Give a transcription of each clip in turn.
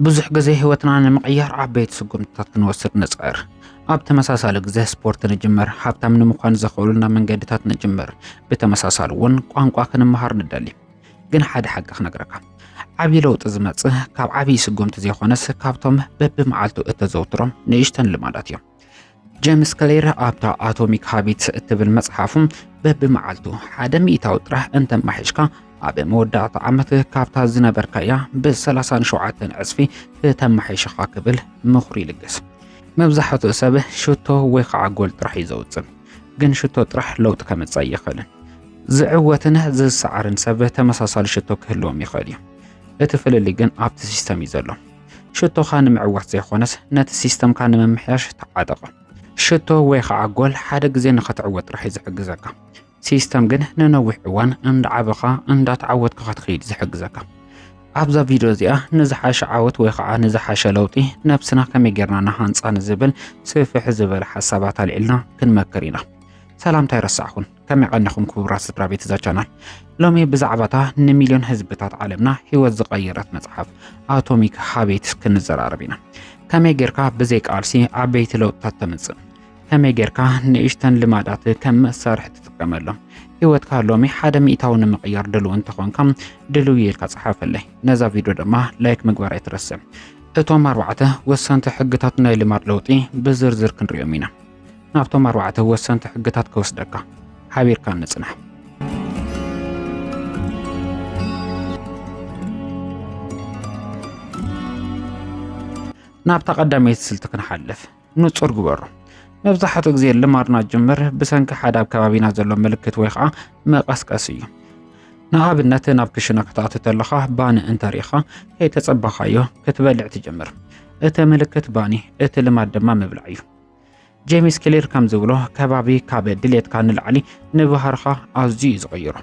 ብዙሕ ግዜ ህይወትና ንምቕያር ዓበይቲ ስጉምትታት ክንወስድ ንፅዕር። ኣብ ተመሳሳሊ ግዜ ስፖርት ንጅምር፣ ሃብታም ንምዃን ዘኽእሉና መንገድታት ንጅምር፣ ብተመሳሳሊ እውን ቋንቋ ክንመሃር ንደሊ። ግን ሓደ ሓቂ ክነግረካ፣ ዓብዪ ለውጢ ዝመፅእ ካብ ዓብዪ ስጉምቲ ዘይኮነስ ካብቶም በብመዓልቱ እተዘውትሮም ንእሽተን ልማዳት እዮም። ጀምስ ክሌር ኣብታ ኣቶሚክ ሃቢትስ እትብል መጽሓፉ በብመዓልቱ ሓደ ሚእታዊ ጥራሕ እንተማሒሽካ ኣብ መወዳእታ ዓመት ካብታ ዝነበርካያ ብ37 ዕጽፊ ክተማሒሽኻ ክብል ምኽሪ ይልግስ። መብዛሕትኡ ሰብ ሽቶ ወይ ከዓ ጎል ጥራሕ እዩ ዘውፅእ፣ ግን ሽቶ ጥራሕ ለውጢ ከምፅእ ኣይኽእልን። ዝዕወትን ዝሰዓርን ሰብ ተመሳሳሊ ሽቶ ክህልዎም ይኽእል እዩ። እቲ ፍልልይ ግን ኣብቲ ሲስተም እዩ ዘሎ። ሽቶኻ ንምዕዋት ዘይኮነስ ነቲ ሲስተምካ ንምምሕያሽ ተዓጠቕ። ሽቶ ወይ ከዓ ጎል ሓደ ግዜ ንኸትዕወት ጥራሕ እዩ ዝሕግዘካ። ሲስተም ግን ንነዊሕ እዋን እንዳዓበኻ እንዳተዓወትካ ክትኸይድ ዝሕግዘካ። ኣብዛ ቪድዮ እዚኣ ንዝሓሸ ዓወት ወይ ከዓ ንዝሓሸ ለውጢ ነብስና ከመይ ጌርና ንሃንፃ ንዝብል ስፍሕ ዝበለ ሓሳባት ኣልዒልና ክንመክር ኢና። ሰላምታ ኣይረሳዕኹን። ከመይ ቀኒኹም ክቡራት ስድራ ቤት እዛ ቻናል ሎሚ ብዛዕባታ ንሚልዮን ህዝብታት ዓለምና ህይወት ዝቐየረት መጽሓፍ ኣቶሚክ ሃቤትስ ክንዘራረብ ኢና ከመይ ጌርካ ብዘይ ቃልሲ ዓበይቲ ለውጥታት ተምጽእ ከመይ ጌርካ ንእሽተን ልማዳት ከም መሳርሒ ትጥቀመሎም ህይወትካ ሎሚ ሓደ ሚእታዊ ንምቕያር ድልው እንተኾንካ ድልው የልካ ጸሓፈለይ ነዛ ቪድዮ ድማ ላይክ ምግባር ኣይትረስዕ እቶም ኣርባዕተ ወሰንቲ ሕግታት ናይ ልማድ ለውጢ ብዝርዝር ክንሪኦም ኢና ናብቶም ኣርባዕተ ወሰንቲ ሕግታት ክወስደካ ሓቢርካ ንጽናሕ ናብታ ቀዳመይቲ ስልቲ ክንሓልፍ ንጹር ግበሩ መብዛሕትኡ ግዜ ልማድና ጅምር ብሰንኪ ሓደ ኣብ ከባቢና ዘሎ ምልክት ወይ ከዓ መቐስቀሲ እዩ ንኣብነት ናብ ክሽነ ክትኣቱ ተለኻ ባኒ እንተሪኢኻ ከይተጸበኻዮ ክትበልዕ ትጀምር እቲ ምልክት ባኒ እቲ ልማድ ድማ ምብላዕ እዩ ጄሚስ ክሊር ከም ዝብሎ ከባቢ ካብ ድሌትካ ንላዕሊ ንባህርኻ ኣዝዩ እዩ ዝቕይሮ።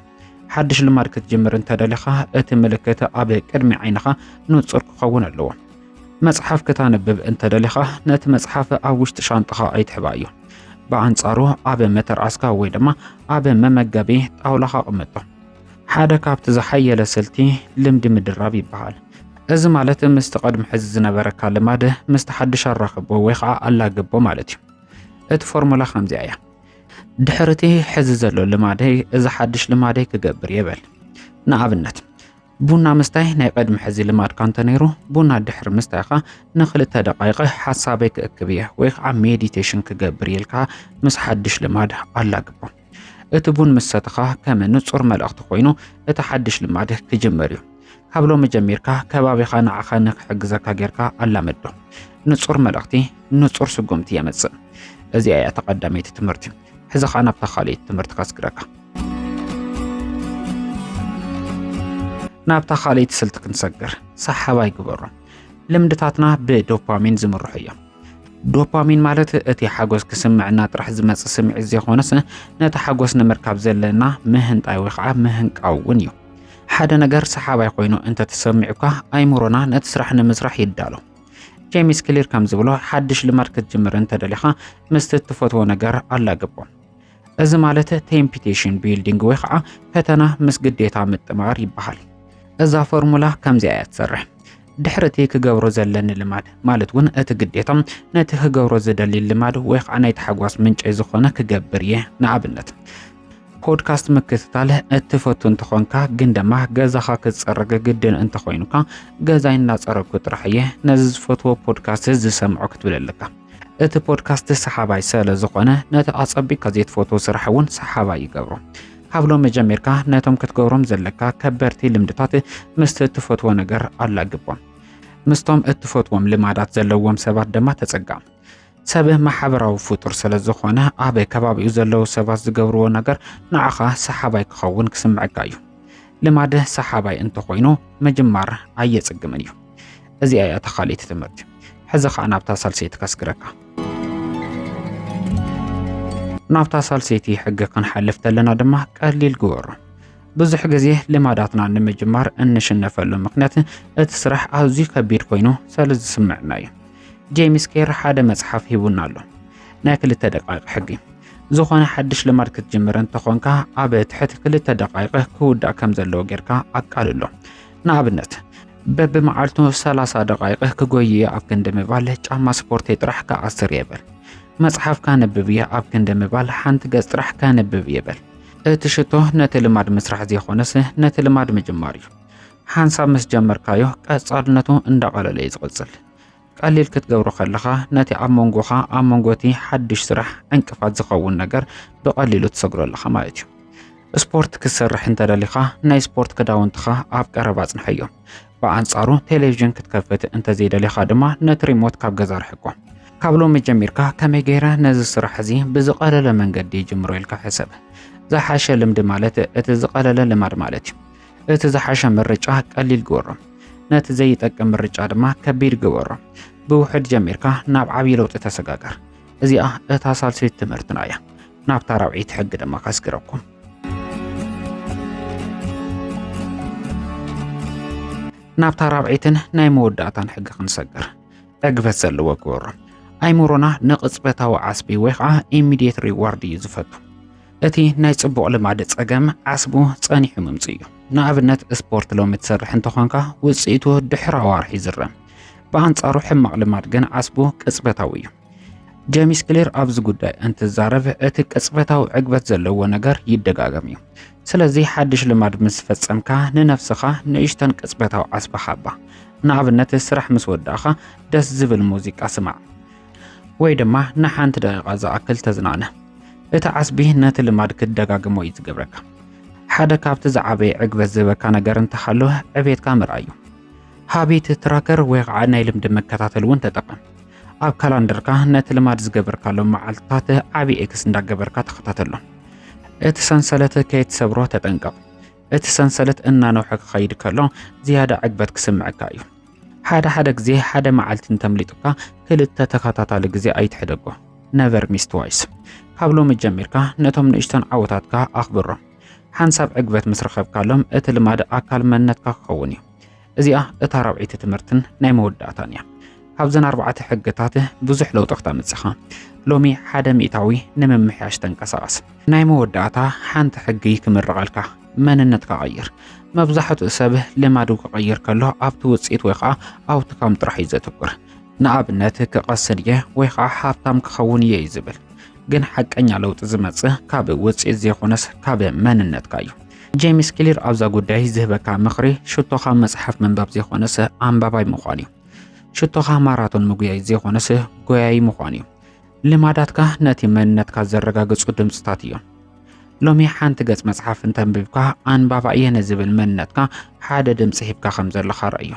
ሓድሽ ልማድ ክትጅምር እንተደሊኻ እቲ ምልክት ኣብ ቅድሚ ዓይንኻ ንጹር ክኸውን ኣለዎ። መጽሓፍ ክታንብብ እንተደሊኻ ነቲ መጽሓፍ ኣብ ውሽጢ ሻንጣኻ ኣይትሕባዮ። ብኣንጻሩ ኣብ መተርኣስካ ወይ ድማ ኣብ መመገቢ ጣውላኻ ኣቕምጦ። ሓደ ካብቲ ዝሓየለ ስልቲ ልምዲ ምድራብ ይበሃል። እዚ ማለት ምስቲ ቅድሚ ሕዚ ዝነበረካ ልማድ ምስቲ ሓድሽ ኣራኽቦ ወይ ከዓ ኣላግቦ ማለት እዩ። እቲ ፎርሙላ ከምዚኣ እያ። ድሕሪ እቲ ሕዚ ዘሎ ልማደይ እዚ ሓድሽ ልማደይ ክገብር የበል። ንኣብነት ቡና ምስታይ ናይ ቅድሚ ሕዚ ልማድካ እንተነይሩ ቡና ድሕሪ ምስታይካ ንክልተ ደቃይቀ ሓሳበይ ክእክብ እየ ወይ ከዓ ሜዲቴሽን ክገብር ኢልካ ምስ ሓድሽ ልማድ ኣላግቦ። እቲ ቡን ምስ ሰተኻ ከም ንጹር መልእኽቲ ኮይኑ እቲ ሓድሽ ልማድ ክጅመር እዩ። ካብ ሎሚ ጀሚርካ ከባቢኻ ንዓኻ ንክሕግዘካ ጌርካ ኣላመዶ። ንጹር መልእኽቲ ንጹር ስጉምቲ የመጽእ። እዚኣ እያ ተቐዳመይቲ ትምህርቲ። ሕዚ ኸኣ ናብታ ካልኣይቲ ትምህርቲ ከስግረካ። ናብታ ካልኣይቲ ስልቲ ክንሰግር ሰሓባይ ግበሮ። ልምድታትና ብዶፓሚን ዝምርሑ እዮም። ዶፓሚን ማለት እቲ ሓጎስ ክስምዕና ጥራሕ ዝመፅእ ስምዒት ዘይኮነስ ነቲ ሓጎስ ንምርካብ ዘለና ምህንጣይ ወይ ከዓ ምህንቃው እውን እዩ። ሓደ ነገር ሰሓባይ ኮይኑ እንተተሰሚዑካ ኣይምሮና ነቲ ስራሕ ንምስራሕ ይዳሎ። ጄሚስ ክሊር ከም ዝብሎ ሓድሽ ልማድ ክትጅምር እንተደሊኻ ምስቲ እትፈትዎ ነገር ኣላግቦ። እዚ ማለት ቴምፒቴሽን ቢልዲንግ ወይ ከዓ ፈተና ምስ ግዴታ ምጥማር ይበሃል። እዛ ፎርሙላ ከምዚኣ እያ ትሰርሕ። ድሕሪ እቲ ክገብሮ ዘለኒ ልማድ ማለት እውን እቲ ግዴታ ነቲ ክገብሮ ዝደሊ ልማድ ወይ ከዓ ናይ ታሕጓስ ምንጨይ ዝኾነ ክገብር እየ። ንኣብነት ፖድካስት ምክትታል እትፈቱ እንተኾንካ ግን ድማ ገዛኻ ክትፀርግ ግድን እንተኾይኑካ ገዛይ እናፀረግኩ ጥራሕ እየ ነዚ ዝፈትዎ ፖድካስት ዝሰምዖ ክትብል ኣለካ። እቲ ፖድካስት ሰሓባይ ስለ ዝኾነ ነቲ ኣጸቢቅካ ዘይትፈትዎ ስራሕ እውን ሰሓባይ ይገብሮ። ካብ ሎሚ ጀሚርካ ነቶም ክትገብሮም ዘለካ ከበድቲ ልምድታት ምስቲ እትፈትዎ ነገር ኣላግቦም። ምስቶም እትፈትዎም ልማዳት ዘለዎም ሰባት ድማ ተጸጋ። ሰብ ማሕበራዊ ፍጡር ስለ ዝኾነ ኣብ ከባቢኡ ዘለዉ ሰባት ዝገብርዎ ነገር ንዓኻ ሰሓባይ ክኸውን ክስምዐካ እዩ። ልማድ ሰሓባይ እንተኾይኑ ምጅማር ኣየጽግምን እዩ። እዚኣ እያ ተኻሊቲ ትምህርቲ ሕዚ ከዓ ናብታ ሳልሰይቲ ከስግረካ ናብታ ሳልሰይቲ ሕጊ ክንሓልፍ ተለና ድማ ቀሊል ግበሮ ብዙሕ ግዜ ልማዳትና ንምጅማር እንሽነፈሉ ምክንያት እቲ ስራሕ ኣዝዩ ከቢድ ኮይኑ ስለ ዝስምዕና እዩ ጄሚስ ኬር ሓደ መፅሓፍ ሂቡና ኣሎ ናይ ክልተ ደቃቂ ሕጊ ዝኾነ ሓድሽ ልማድ ክትጅምር እንተኾንካ ኣብ ትሕቲ ክልተ ደቃይቂ ክውዳእ ከም ዘለዎ ጌርካ ኣቃልሎ ንኣብነት በብመዓልቱ 30 ደቓይቕ ክጎይ እየ ኣብ ክንዲ ምባል ጫማ ስፖርተይ ጥራሕ ክኣስር እየ በል። መጽሓፍ ካንብብ እየ ኣብ ክንዲ ምባል ሓንቲ ገጽ ጥራሕ ከንብብ እየ በል። እቲ ሽቶ ነቲ ልማድ ምስራሕ ዘይኮነስ ነቲ ልማድ ምጅማር እዩ። ሓንሳብ ምስ ጀመርካዮ ቀጻልነቱ እንዳቐለለ እዩ ዝቕጽል። ቀሊል ክትገብሮ ከለኻ ነቲ ኣብ መንጎኻ ኣብ መንጎቲ ሓድሽ ስራሕ ዕንቅፋት ዝኸውን ነገር ብቐሊሉ ትሰግሮ ኣለኻ ማለት እዩ ስፖርት ክትሰርሕ እንተደሊኻ ናይ ስፖርት ክዳውንትኻ ኣብ ቀረባ ኣጽንሐዮ ብኣንጻሩ ቴሌቭዥን ክትከፍት እንተዘይደሊኻ ድማ ነቲ ሪሞት ካብ ገዛ ርሕቆ ካብ ሎሚ ጀሚርካ ከመይ ገይረ ነዚ ስራሕ እዚ ብዝቐለለ መንገዲ ይጅምሮ ኢልካ ሕሰብ ዝሓሸ ልምዲ ማለት እቲ ዝቐለለ ልማድ ማለት እዩ እቲ ዝሓሸ ምርጫ ቀሊል ግበሮ፣ ነቲ ዘይጠቅም ምርጫ ድማ ከቢድ ግበሮ። ብውሕድ ጀሚርካ ናብ ዓብዪ ለውጢ ተሰጋገር። እዚኣ እታ ሳልሰይቲ ትምህርትና እያ። ናብታ ራብዒይቲ ሕጊ ድማ ከስግረኩም። ናብታ ራብዒትን ናይ መወዳእታን ሕጊ ክንሰግር ዕግበት ዘለዎ ግበሮ። ኣይምሮና ንቕጽበታዊ ዓስቢ ወይ ከዓ ኢሚዲየት ሪዋርድ እዩ ዝፈቱ። እቲ ናይ ጽቡቕ ልማድ ጸገም ዓስቡ ጸኒሑ ምምጽኡ እዩ። ንኣብነት ስፖርት ሎሚ ትሰርሕ እንተኾንካ ውጽኢቱ ድሕሪ ኣዋርሒ ይዝረም። ብኣንጻሩ ሕማቕ ልማድ ግን ዓስቡ ቅጽበታዊ እዩ። ጀሚስ ክሊር ኣብዚ ጉዳይ እንትዛረብ እቲ ቅጽበታዊ ዕግበት ዘለዎ ነገር ይደጋገም እዩ። ስለዚ ሓድሽ ልማድ ምስ ፈጸምካ ንነፍስኻ ንእሽተን ቅጽበታዊ ዓስቢ ሃባ። ንኣብነት ስራሕ ምስ ወዳእኻ ደስ ዝብል ሙዚቃ ስማዕ። ወይ ድማ ንሓንቲ ደቂቓ ዝኣክል ተዝናነ። እቲ ዓስቢ ነቲ ልማድ ክትደጋግሞ እዩ ዝገብረካ። ሓደ ካብቲ ዝዓበየ ዕግበት ዝበካ ነገር እንተሃለወ ዕቤትካ ምርኣይ እዩ። ሃቢት ትራከር ወይ ከዓ ናይ ልምዲ መከታተል እውን ተጠቐም። ኣብ ካላንደርካ ነቲ ልማድ ዝገበርካሎ መዓልትታት ዓብዪ ኤክስ እንዳገበርካ ተኸታተሎ። እቲ ሰንሰለት ከይትሰብሮ ተጠንቀቕ። እቲ ሰንሰለት እናነውሐ ክኸይድ ከሎ ዝያዳ ዕግበት ክስምዐካ እዩ። ሓደ ሓደ ግዜ ሓደ መዓልቲ እንተምሊጡካ ክልተ ተኸታታሊ ግዜ ኣይትሕደጎ ነቨር ሚስ ትዋይስ። ካብ ሎሚ ጀሚርካ ነቶም ንእሽቶን ዓወታትካ ኣኽብሮም። ሓንሳብ ዕግበት ምስ ረኸብካሎም እቲ ልማድ ኣካል መንነትካ ክኸውን እዩ። እዚኣ እታ ራብዐይቲ ትምህርትን ናይ መወዳእታን እያ። ካብዘን ኣርባዕተ ሕግታት ብዙሕ ለውጢ ክተምጽእ ኢኻ። ሎሚ ሓደ ሚእታዊ ንምምሕያሽ ተንቀሳቐስ። ናይ መወዳእታ ሓንቲ ሕጊ ክምርቐልካ። መንነት ክቐይር መብዛሕትኡ ሰብ ልማዱ ክቐይር ከሎ ኣብቲ ውፅኢት ወይ ከዓ ኣውትካም ጥራሕ እዩ ዘትኩር። ንኣብነት ክቐስን እየ ወይ ከዓ ሃብታም ክኸውን እየ እዩ ዝብል። ግን ሓቀኛ ለውጢ ዝመጽእ ካብ ውጽኢት ዘይኮነስ ካብ መንነትካ እዩ። ጄምስ ክሊር ኣብዛ ጉዳይ ዝህበካ ምኽሪ ሽቶኻ መጽሓፍ ምንባብ ዘይኮነስ ኣንባባይ ምዃን እዩ። ሽቶኻ ማራቶን ምጉያይ ዘይኮነስ ጎያይ ምዃን እዩ። ልማዳትካ ነቲ መንነትካ ዘረጋግጹ ድምፅታት እዮም። ሎሚ ሓንቲ ገጽ መጽሓፍ እንተንቢብካ ኣንባባ እየ ንዝብል መንነትካ ሓደ ድምፂ ሂብካ ከም ዘለኻ ረእዮ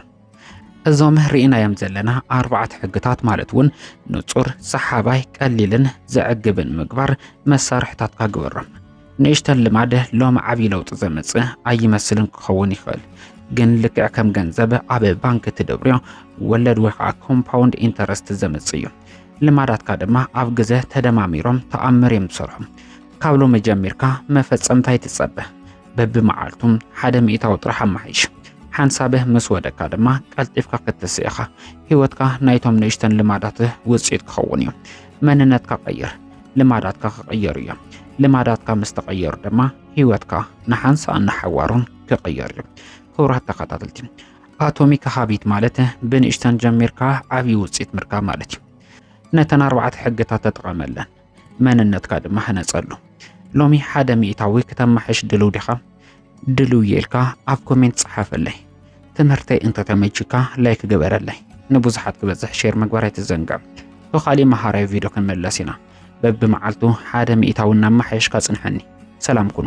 እዞም ርኢናዮም ዘለና ኣርባዕተ ሕግታት ማለት እውን ንጹር ሰሓባይ ቀሊልን ዘዕግብን ምግባር መሳርሕታትካ ግበሮም ንእሽተን ልማድ ሎሚ ዓብዪ ለውጢ ዘምፅእ ኣይመስልን ክኸውን ይኽእል ግን ልክዕ ከም ገንዘብ ኣብ ባንክ ትደብርዮ ወለድ ወይ ከዓ ኮምፓውንድ ኢንተረስት ዘምፅእ እዩ ልማዳትካ ድማ ኣብ ግዘ ተደማሚሮም ተኣምር እዮም ዝሰርሑ። ካብ ሎሚ ጀሚርካ መፈጸምታ ይትጸበ በብመዓልቱ ሓደ ሚእታዊ ጥራሕ ኣማሓይሽ። ሓንሳበ ምስ ወደካ ድማ ቀልጢፍካ ክትስእ ኢኻ። ህይወትካ ናይቶም ንእሽተን ልማዳት ውፅኢት ክኸውን እዩ። መንነትካ ቀይር፣ ልማዳትካ ክቕየሩ እዮም። ልማዳትካ ምስ ተቐየሩ ድማ ህይወትካ ንሓንሳእን ንሓዋሩን ክቕየር እዩ። ክቡራት ተኸታተልቲ ኣቶሚክ ሃቢት ማለት ብንእሽተን ጀሚርካ ዓብዪ ውፅኢት ምርካብ ማለት እዩ። ነተን ኣርባዕተ ሕግታት ተጠቐመለን፣ መንነትካ ድማ ህነፀሉ። ሎሚ ሓደ ሚእታዊ ክተማሕሽ ድልው ዲኻ? ድልው እየ ኢልካ ኣብ ኮሜንት ጸሓፈለይ። ትምህርተይ እንተተመችካ ላይክ ግበረለይ። ንብዙሓት ክበዝሕ ሼር ምግባር ኣይትዘንግዕ። ብካሊእ መሃራዊ ቪድዮ ክንመለስ ኢና። በብመዓልቱ ሓደ ሚእታዊ እናመሓየሽካ ጽንሐኒ። ሰላም ኩኑ።